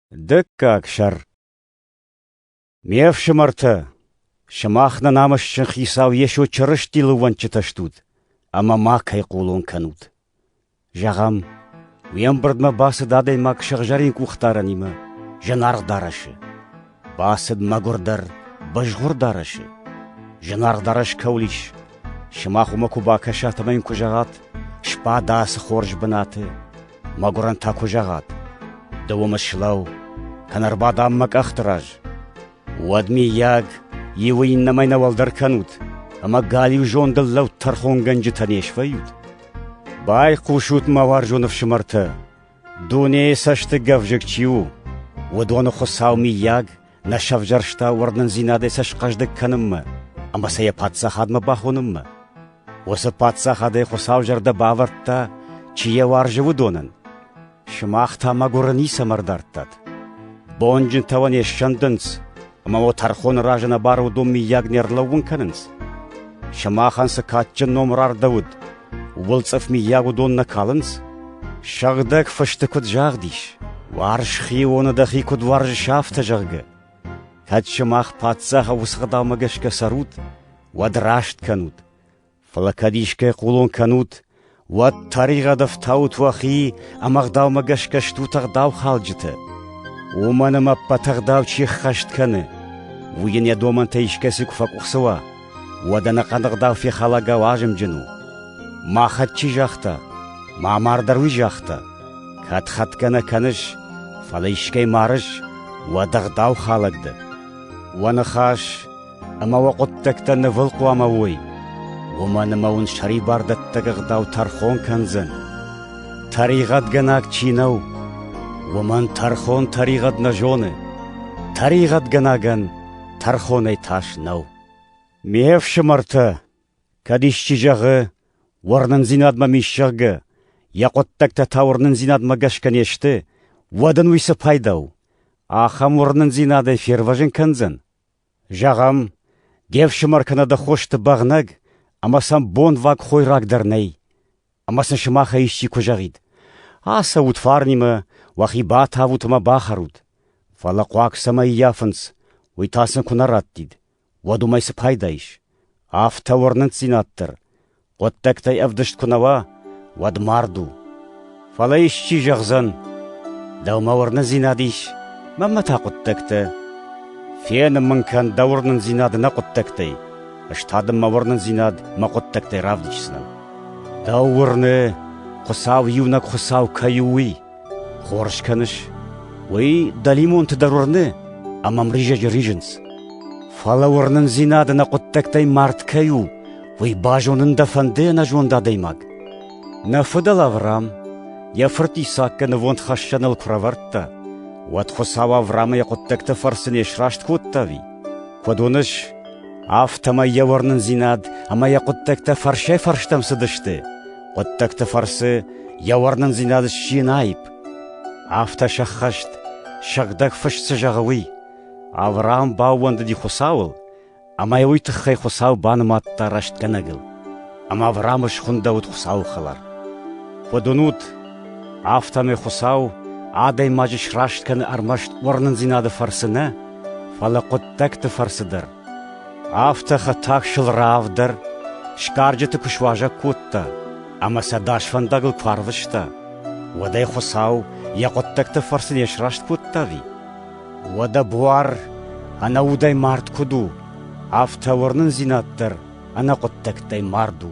Дыккаг сӕр Ме фсымӕртӕ, сымах нӕ намысджын хицау Йесо Чырыстилы уӕнчытӕ стут ӕмӕ ма кӕй хъулон кӕнут. Зӕгъӕм, уе мбырдмӕ бацыд адӕймаг сыгъзӕрин къухдаранимӕ, зынаргъ дарӕсы. Бацыд мӕгуырдӕр, бызгъуыр дарӕсы. Зынаргъ дарӕс кӕуыл ис? Сымах уымӕ куы бакӕсат ӕмӕ йын куы зӕгъат: «Сбада ацы хорз бынаты!» Мӕгуырӕн та куы зӕгъат: «Ды уым ыслӕу, кӕнӕ ӕрбадӕм мӕ къӕхты раз!» Уӕд, миййаг, иуы иннӕмӕй нӕ уӕлдӕр кӕнут ӕмӕ галиу зондыл лӕуд тӕрхонгӕнджытӕ не свӕййут? Байхъусут, мӕ уарзон ӕфсымӕртӕ! Дунейы цӕстыгӕвзыг чи у, уыдоны Хуыцау, мыййаг, нӕ сӕвзӕрста уырнындзинадӕй сӕ схъӕздыг кӕнынмӕ ӕмӕ сӕ йӕ паддзахадмӕ бахонынмӕ. Уыцы паддзахадӕй Хуыцау зӕрдӕ бавӕрдта, чи йӕ уарзы, уыдонӕн. Сымах та мӕгуыры ницӕмӕ ӕрдардтат. Бонджынтӕ уӕ не ссӕндынц, Ӕмӕ уӕ тӕрхоны разы нӕ барудон миййаг не рлӕууын кӕнынц? Сымахӕн цы кадджын ном рардӕуыд, ууыл цъыф миййаг уыдон нӕ калынц? Сыгъдӕг Фысты куыд загъд ис, «Уарз Хионы дӕхи куыд уарзыс афтӕ», зӕгъгӕ, кӕд сымах паддзаха уыцы гъдаумӕ гӕсгӕ цӕрут, уӕд раст кӕнут, Фал кӕд искӕй хъулон кӕнут, уӕд тӕригъӕд ӕфтаут уӕхи ӕма гъдаумӕ гӕсгӕ стут ӕгъдаухалджытӕ. Уомӕн ӕма ӕппӕт ӕгъдау чи ӕххӕст кӕны, уый ин йӕ домӕнтӕй искӕцӕй куы фӕкъухцӕуа, уӕд ӕнӕхъӕн ӕгъдау фехалагау азымджын у. Махӕт чи загъта, ма мардӕр уый загъта. Кӕд хатгӕ нӕ кӕныс, фӕлӕ искӕй марыс, уӕд ӕгъдау халӕг дӕ. Уӕ ныхас Ӕмӕ уӕ хъуыддӕгтӕ нывыл хъуамӕ уой, уымӕн ӕмӕ уын сӕрибардӕттӕг ӕгъдау тӕрхон кӕндзӕн. Тӕригъӕдгӕнаг чи нӕу, уымӕн тӕрхон тӕригъӕд нӕ зоны, тӕригъӕдгӕнагӕн тӕрхонӕй тас нӕу. Ме фсымӕртӕ, кӕд исчи зӕгъы, уырнындзинадмӕ мис, зӕгъгӕ, йӕ хъуыддӕгтӕ та уырнындзинадмӕ гӕсгӕ не сты, уӕд ын уый цы пайда у? Ахӕм уырнындзинадӕй фервӕзын кӕндзӕн? Зӕгъӕм, де фсымӕр кӕнӕ дӕ хосты бӕгънӕг ӕмӕ сӕм бонвӕг хойраг дӕр нӕй, ӕмӕ сын сымахӕй исчи куы зӕгъид: «Ацӕут фарнимӕ, уӕхи батавут ӕмӕ бахӕрут, фӕлӕ хъуаг цӕмӕй ӕййафынц, уый та сын куы нӕ раттид, уӕд уымӕй цы пайда ис? Афтӕ уырнындзинад дӕр. Хъуыддӕгтӕй ӕвдыст куы нӕ уа, уӕд мард у. Фӕлӕ исчи зӕгъдзӕн, дӕумӕ уырнындзинад ис, мӕнмӕ та хъуыддӕгтӕ. Фенын мын кӕн дӕ уырнындзинад нӕ хъуыддӕгтӕй, ӕз та дын мӕ уырнындзинад мӕ хъуыддӕгтӕй равдисдзынӕн. Дӕу уырны, Хуыцау иунӕг Хуыцау кӕй у, уый. Хорз кӕныс, уый дӕлимонты дӕр уырны ӕмӕ мризӕджы ризынц. Фӕлӕ уырнындзинады нӕ хъуыддӕгтӕй мард кӕй у, уый базонын дӕ фӕнды ӕнӕзонд адӕймаг? Нӕ фыдӕл Авраам йӕ фырт Исааккӕ нывондхӕссӕныл куы рӕвӕрдта, уӕд Хуыцау Авраамы йӕ хъуыддӕгты фӕрцы не сраст кодта ӕви? Куыд уыныс, афтӕмӕй йӕ уырнындзинад ӕмӕ йӕ хъуыддӕгтӕ фӕрсӕй-фӕрстӕм цыдысты, Хъуыддӕгты фӕрцы йӕ уырнындзинад сси наиб. Афтӕ сӕххӕст, сыгъдӕг фыст цы зӕгъы, уый. Авраам баууӕндыди Хуыцауыл, ӕмӕ уый тыххӕй Хуыцау банымадта рӕстгӕнӕгыл. Ӕмӕ Авраамы схуындӕуыд Хуыцауы хӕлар. Куыд уынут, афтӕмӕй Хуыцау адӕймаджы сраст кӕны ӕрмӕст уырнындзинады фӕрцы нӕ, фӕлӕ хъуыддӕгты фӕрцы дӕр. Афтӕ хӕтӕгсыл раавдӕр сгарджыты куы суазӕг кодта ӕмӕ сӕ дӕс фӕндагыл куы арвыста, уӕд ӕй Хуыцау йӕ хъуыддӕгты фӕрцы не сраст кодтави? Уӕдӕ буар ӕнӕудӕй мард куыд у, афтӕ уырнындзинад дӕр ӕнӕ хъуыддӕгтӕй мард у.